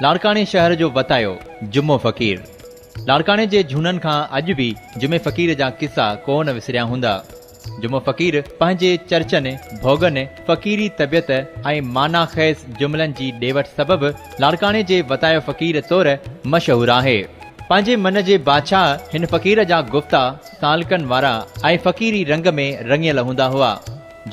لاڙڪاڻي شهر جو وتايو جمعو فقير لاڙڪاڻي جي جهونن کان اڄ به جمعي فقير جا قصا ڪو نه وسريا هوندا. جمعو فقير پنهنجي چرچن، ڀوڳن، فقيري طبيعت ۽ معنيٰ خيز جملن جي ڏيوٺ سبب لاڙڪاڻي جي وتايو فقير طور مشهور آهي. پنهنجي من جي بادشاهه هن فقير جا گفتا سالڪن وارا ۽ فقيري رنگ ۾ رڱيل هوندا هئا.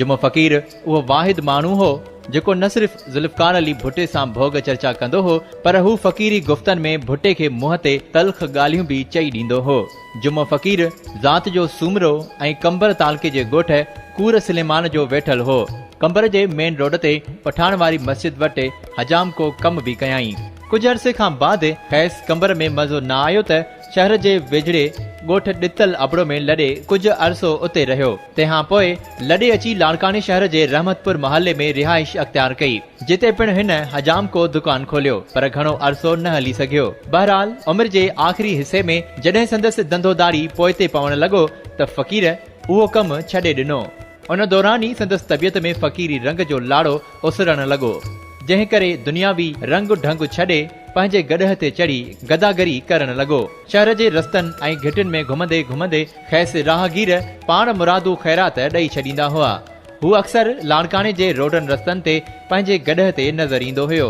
جمعو فقير اهو واحد ماڻهو هو، جيڪو نه صرف ذوالفقار علي ڀٽي سان ڀوڳ چرچا ڪندو هو، پر هو فقيري گفتن ۾ ڀٽي کي منهن تي تلخ ڳالهيون به چئي ڏيندو هو. جمعو فقير ذات جو سومرو ۽ قمبر تعلقي جي ڳوٺ ڪور سليمان جو ويٺل هو. قمبر جي مين روڊ تي پٺاڻ واري مسجد وٽ حجام ڪو ڪم به ڪيائين. ڪجهه عرصي کان بعد کيس قمبر ۾ مزو نه آيو ته شهر جي ويجهڙي ڳوٺ ڏتل ابڙو ۾ لڏي ڪجهه عرصو اتي رهيو. تنهن پوء لڏي اچي لاڙڪاڻي شهر جي رحمت پور محلي ۾ رهائش اختيار ڪئي، جتي پڻ هن حجام ڪو دڪان کوليو، پر گهڻو عرصو نه هلي سگهيو. بهرحال عمر جي آخري حصي ۾ جڏهن سندس ڌنڌو ڌاڙي پوئتي پوڻ لڳو ته فقير اهو ڪم ڇڏي ڏنو. ان دوران ئي سندس طبيعت ۾ فقيري رنگ جو لاڙو اسرڻ لڳو، جنهن ڪري دنياوي رنگ ڍنگ ڇڏي پنهنجي گڏهه تي چڙهي گداگري ڪرڻ لڳو. شهر جي رستن ۽ گهٽين ۾ گهمندي گهمندي کيس راهگير پاڻ مرادو خيرات ڏئي ڇڏيندا هئا. هو اڪثر لاڙڪاڻي جي روڊن رستن تي پنهنجي گڏهه تي نظر ايندو هيو.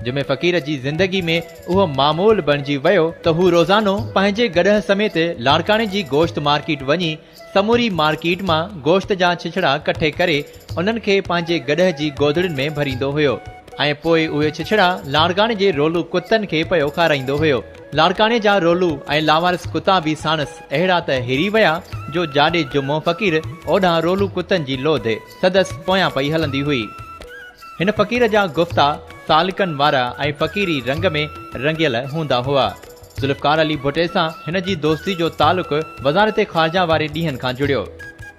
جمعي فقير جي زندگي ۾ اهو معمول بڻجي ويو ته هو روزانو پنهنجي گڏهه سميت لاڙڪاڻي جي گوشت مارڪيٽ وڃي سموري مارڪيٽ مان گوشت جا ڇڇڙا ڪٺي ڪري انهن کي پنهنجي گڏهه جي گودڙين ۾ ڀريندو هيو ۽ پوء اهي ڇڇڙا لاڙڪاڻي جي رولو ڪتن کي پيو کارائيندو هيو. لاڙڪاڻي جا رولو ۽ لاوارث ڪتا به ساڻس اهڙا ته هري ويا جو جاڏي جمعو فقير اوڏان رولو ڪتن جي لوڌ سندس پويان پئي هلندي هئي. هن فقير جا گفتا سالڪن وارا ۽ فقيري رنگ ۾ رڱيل هوندا هئا. ذوالفقار علي ڀٽي سان هن جي دوستي جو تعلق وزارت خارجه واري ڏينهن کان جڙيو.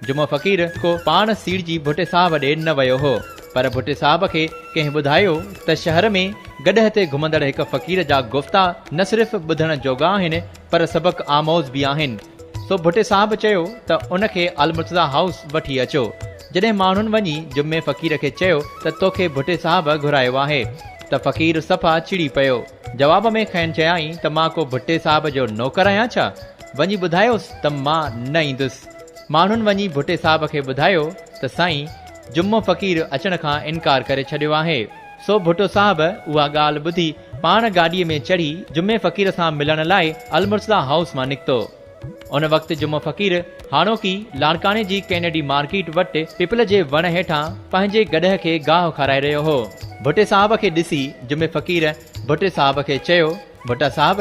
جمعو فقير ڪو پاڻ سيڙجي ڀٽي صاحب ڏي نه ويو هو. پر ڀٽي صاحب کي ڪنهن ٻڌايو ته شهر ۾ گڏهه تي گهمندڙ هڪ فقير جا گفتا نه صرف ٻڌڻ جوڳا آهن پر سبق آموز به آهن. سو ڀٽي صاحب چيو ته ان کي المرتضيٰ هائوس وٺي اچو. جڏهن ماڻهن وڃي جمعي فقير کي چيو ته توکي ڀٽي صاحب گهرايو آهي ته فقير صفا چڙي پيو. جواب ۾ کين چيائين ته مان ڪو ڀٽي صاحب جو نوڪر آهيان ڇا؟ وڃي ٻڌايوس ته مان نه ايندس. ماڻهن وڃي ڀٽي صاحب کي ٻڌايو ته سائين! جمعو فقير اچڻ کان انڪار ڪري ڇڏيو آهي. سو ڀٽو صاحب اها ڳالهه ٻڌي پاڻ گاڏيء ۾ چڙهي جمعي فقير سان ملڻ لاء المرتضيٰ هائوس مان نڪتو. ان وقت جمعو فقير هاڻوڪي لاڙڪاڻي جي ڪينيڊي مارڪيٽ وٽ پپل جي وڻ هيٺان پنهنجي گڏهه کي گاهه کارائي رهيو هو. ڀٽي صاحب کي ڏسي جمعي فقير ڀٽي صاحب کي چيو، ڀٽا صاحب!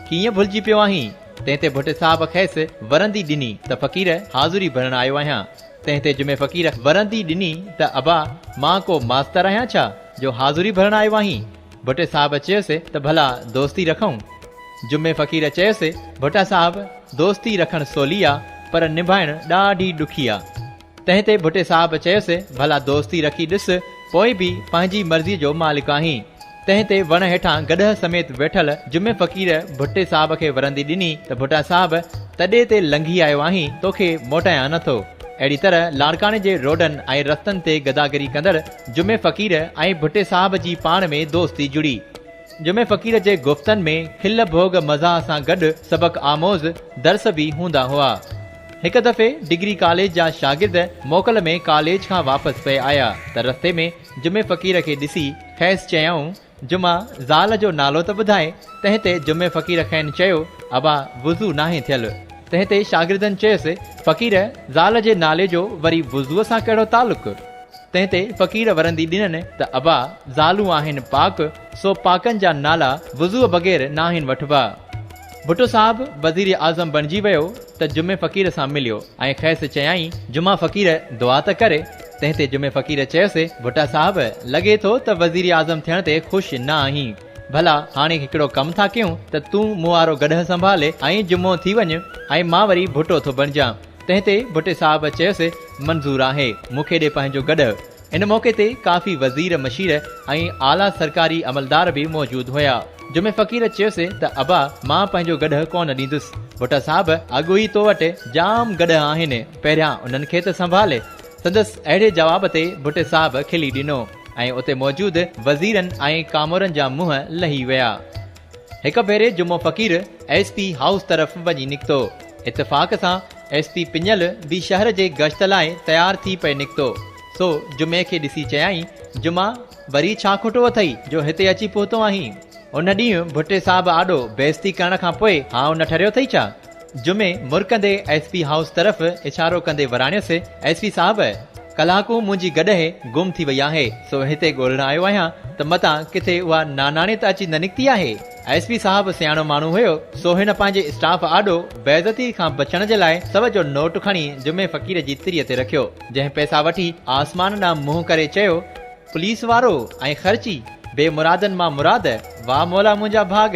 ڪيئن ڀلجي پيو آهين؟ تنهن تي ڀٽي صاحب کيس ورندي ڏني ته فقير حاضري ڀرڻ آيو آهيان. تنهن تي جمعي فقير ورندي ڏني ته ابا مان ڪو ماستر آهيان ڇا جو حاضري ڀرڻ آيو آهين؟ ڀٽي صاحب چيس ته ڀلا دوستي رکئون؟ جمعي فقير چيس ڀٽا صاحب دوستي رکڻ سولي آ پر نڀائڻ ڏاڍي ڏکي آ. تنهن تي ڀٽي صاحب چيس ڀلا دوستي رکي ڏس پوء به پنهنجي مرضي جو مالڪ آهين. تنهن تي وڻ هيٺان گڏهه سميت ويٺل جمعي فقير ڀٽي صاحب کي ورندي ڏني ته ڀٽا صاحب تڏي تي لنگهي آيو آهين توکي موٽايان نه ٿو. اهڙي طرح لاڙڪاڻي جي روڊن ۽ رستن تي گداگري ڪندڙ جمعي فقير ۽ ڀٽي صاحب جي پاڻ ۾ دوستي جڙي. جمعي فقير جي گفتن ۾ کل ڀوڳ مزاح سان گڏ سبق آموز درس به هوندا هئا. هڪ دفعي ڊگري ڪاليج جا شاگرد موڪل ۾ ڪاليج کان واپس پئي آيا ته رستي ۾ جمعي فقير کي ڏسي کيس چيائون جمعه زال جو نالو ته ٻڌاء، تنهن تي جمعي فقير کين چيو ابا وضو ناهي ٿيل، تنهن تي شاگردن چيس فقير زال جي نالي جو وري وضوء سان ڪهڙو تعلق؟ تنهن تي فقير ورندي ڏنن ته ابا زالون آهن پاڪ سو پاڪن جا نالا وضوء بغير ناهن وٺبا. ڀٽو صاحب وزير اعظم بڻجي ويو ته جمعي فقير سان مليو ۽ کيس چيائين جمعا فقير دعا ته ڪري، تنهن تي جمعي فقير چيس ڀٽا صاحب لڳي ٿو ته وزير اعظم ٿيڻ تي خوش نه آهين، ڀلا هاڻي هڪڙو ڪم ٿا ڪيون ته تون مون وارو گڏهه سنڀالي ۽ جمعو ٿي وڃ ۽ مان وري ڀٽو ٿو بڻجان، تنهن تي ڀٽي صاحب چيس منظور آهي، مون کي ڏي پنهنجو گڏهه. ان موقعي تي ڪافي وزير مشير ۽ اعليٰ سرڪاري عملدار به موجود هيا. جمعي فقير چيس ته ابا مان پنهنجو گڏهه ڪونه ڏيندس. ڀٽا صاحب اڳ ئي تو وٽ جام گڏهه آهن پهريان انهن کي ته سنڀال. سندس اهڙي جواب تي ڀٽي صاحب کلي ڏنو ۽ اتي موجود وزيرن ۽ ڪامورن جا منهن لهي ويا. هڪ ڀيري Jumo Faqir S P house طرف وڃي نڪتو. اتفاق سان ايس پي پڃل به شهر جي گشت لاء تيار ٿي پئي نڪتو. سو جمعي کي ڏسي چيائين، جمعا، وري ڇا کوٽو اٿئي جو هتي اچي پهتو آهين؟ ان ڏينهن ڀٽي صاحب آڏو بي عزتي ڪرڻ کان پوء هائو نه ٺريو اٿئي ڇا؟ جمعي مرڪندي ايس پي هائوس طرف اشارو ڪندي وراڻيس، ايس پي صاحب! ڪلاڪون منهنجي گڏهه گم ٿي وئي آهي، سو هتي ڳولڻ آيو آهيان ته متان ڪٿي اها ناناڻي ته اچي نه نڪتي آهي؟ ايس پي صاحب سياڻو ماڻهو هيو، سو هن پنهنجي اسٽاف آڏو بيعزتيء کان بچڻ جي لاء سو جو نوٽ کڻي جمعي فقير جي تريء تي رکيو، جنهن پئسا وٺي آسمان ڏانهن منهن ڪري چيو، پوليس وارو ۽ خرچي، بي مرادن مان مراد، واهه مولا منهنجا ڀاڳ!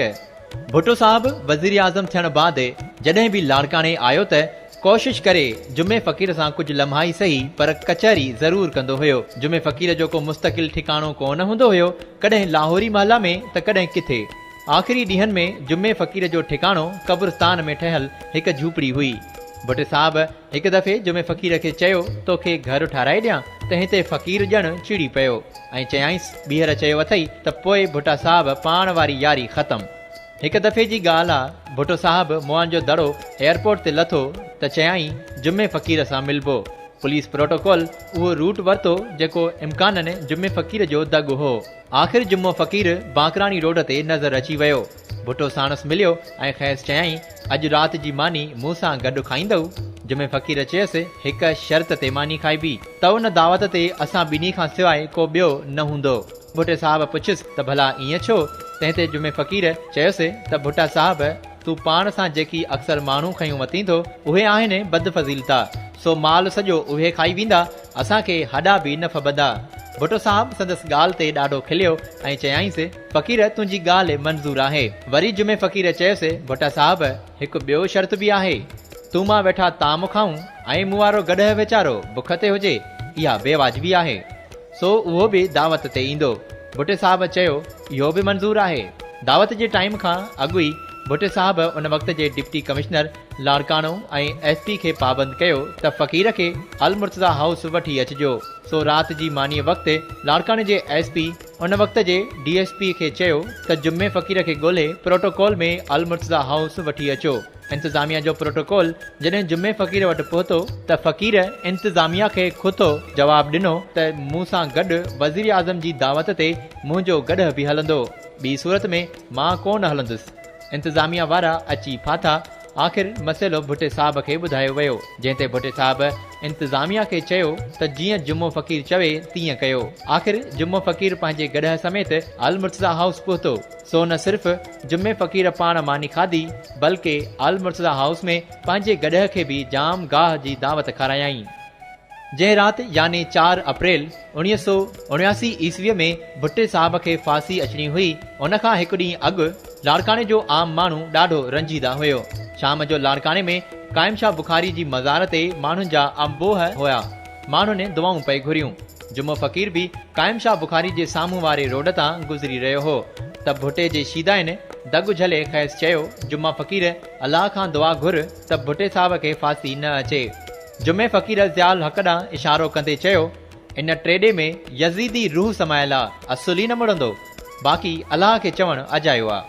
ڀٽو صاحب وزيراعظم ٿيڻ بعد جڏهن به لاڙڪاڻي آيو ته ڪوشش ڪري جمعي فقير سان ڪجهه لمحا ئي سهي پر ڪچهري ضرور ڪندو هيو. جمعي فقير جو ڪو مستقل ٺڪاڻو ڪو نه هوندو هيو، ڪڏهن لاهوري محله ۾ ته ڪڏهن ڪٿي. آخري ڏينهن ۾ جمعي فقير جو ٺڪاڻو قبرستان ۾ ٺهيل هڪ جهوپڙي هئي. ڀٽي صاحب هڪ دفعي جمعي فقير کي چيو، توکي گهر ٺاهرائي ڏيان؟ تنهن تي فقير ڄڻ چڙي پيو ۽ چيائينس، ٻيهر چيو اٿئي ته پوء ڀٽا صاحب پاڻ واري ياري ختم. هڪ دفعي جي ڳالهه آ، ڀٽو صاحب موئن جو دڙو ايئرپورٽ تي لٿو ته چيائين، جمعي فقير سان ملبو. پوليس پروٽوڪول اهو روٽ ورتو جيڪو امڪانن جمعي فقير جو دڳ هو. آخر جمعو فقير بانڪراڻي روڊ تي نظر اچي ويو. ڀٽو ساڻس مليو ۽ کيس چيائين، اڄ رات جي ماني مون سان گڏ کائيندؤ؟ جمعي فقير چيس، هڪ شرط تي ماني کائبي، ته ان دعوت تي اسان ٻنهي کان سواء ڪو ٻيو نه هوندو. ڀٽي صاحب پڇيس ته ڀلا ائين ڇو؟ تنهن تي جمعي فقير چيس ته ڀٽا صاحب! تون پاڻ سان جيڪي اڪثر ماڻهو کنيون وتين ٿو، اهي آهن ئي بد فضيلتا، سو مال سڄو اهي کائي ويندا، اسان کي هڏا به نه ڦٻندا. ڀٽو صاحب سندس ڳالهه تي ڏاڍو کليو ۽ چيائينس. فقير تنهنجي ڳالهه منظور آهي. وري جمعي فقير چيس، ڀٽا صاحب هڪ ٻيو شرط به آهي. تون مان ويٺا طعام کائون ۽ مون وارو گڏهه ويچارو بک تي هجي، اها بي واجبي آهي. سو اهو به دعوت تي ايندو. ڀٽي صاحب چيو، اهو به منظور آهي. دعوت جي ٽائيم کان اڳ ئي ڀٽي صاحب ان وقت جي deputy commissioner Larkana ۽ S P کي پابند ڪيو ته فقير کي المرتضيٰ هائوس وٺي اچجو. سو رات جي مانيء وقت لاڙڪاڻي جي ايس پي ان وقت جي ڊي ايس پي کي چيو ته جمعي فقير کي ڳولهي پروٽوڪول ۾ المرتضيٰ هائوس وٺي اچو. انتظاميا جو پروٽوڪول جڏهن جمعي فقير وٽ پهتو ته فقير انتظاميا کي کٿو جواب ڏنو ته مون سان گڏ وزيراعظم جي دعوت تي منهنجو گڏهه به هلندو ٻي صورت ۾ مان ڪو نه هلندس. انتظاميا وارا اچي ڦاٿا. آخر مسئلو ڀٽي صاحب کي ٻڌايو ويو، جنهن تي ڀٽي صاحب انتظاميا کي چيو ته جيئن جمعو فقير چوي تيئن ڪيو. آخر جمعو فقير پنهنجي گڏهه سميت المرتضيٰ هائوس پهتو. سو نه صرف جمعي فقير پاڻ ماني کاڌي، بلڪه المرتضيٰ هائوس ۾ پنهنجي گڏهه کي به جام گاهه جي دعوت کارايائين. جنهن رات يعني چار اپريل اوڻيهه سؤ اڻياسي عيسويء ۾ ڀٽي صاحب کي ڦاسي اچڻي هئي، ان کان هڪ ڏينهن اڳ لاڙڪاڻي جو عام ماڻهو ڏاڍو رنجيده هيو. شام جو لاڙڪاڻي ۾ قائم شاهه بخاري جي مزار تي ماڻهن جا امبوهه هيا. ماڻهن دعائون پئي گهريون. جمعو فقير به قائم شاهه بخاري جي سامهون واري روڊ تان گذري رهيو هو ته ڀٽي جي شيدائين دڳ جهلي کيس چيو، جمعه فقير الله کان دعا گهر ته ڀٽي صاحب کي ڦاسي نه اچي. جمعي فقير الضياء الحق ڏانهن اشارو ڪندي چيو، ان ٽيڏي ۾ يزيدي روح سمايل آ، اصل ئي نه مڙندو. باقي الله کي چوڻ اجايو آ.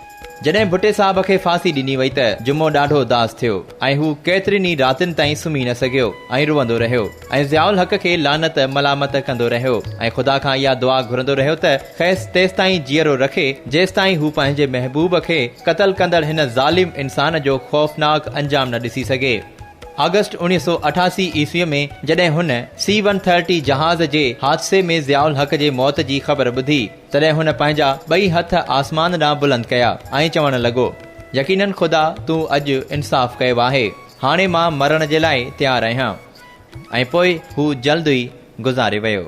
جڏهن ڀٽي صاحب کي ڦاسي ڏني وئي ته جمعو ڏاڍو اداس ٿيو ۽ هو ڪيترين ئي راتين تائين سمهي نه سگهيو ۽ روئندو رهيو ۽ ضياء الحق کي لعنت ملامت ڪندو رهيو ۽ خدا کان اها دعا گهرندو رهيو ته کيس تيستائين جيئرو رکي جيستائين هو پنهنجي محبوب کي قتل ڪندڙ هن ظالم انسان جو خوفناڪ انجام نه ڏسي سگهي. آگسٽ اوڻيهه سؤ اٺاسي عيسويء ۾ جڏهن هن سي ون ٿرٽي جهاز جي حادثي ۾ ضياء الحق جي موت جي خبر ٻڌي، تڏهن هن پنهنجا ٻئي هٿ آسمان ڏانهن بلند ڪيا ۽ چوڻ لڳو، يقينن خدا تون اڄ انصاف ڪيو آهي، هاڻي مان مرڻ جي لاء تيار آهيان. ۽ پوء هو جلد ئي گذاري ويو.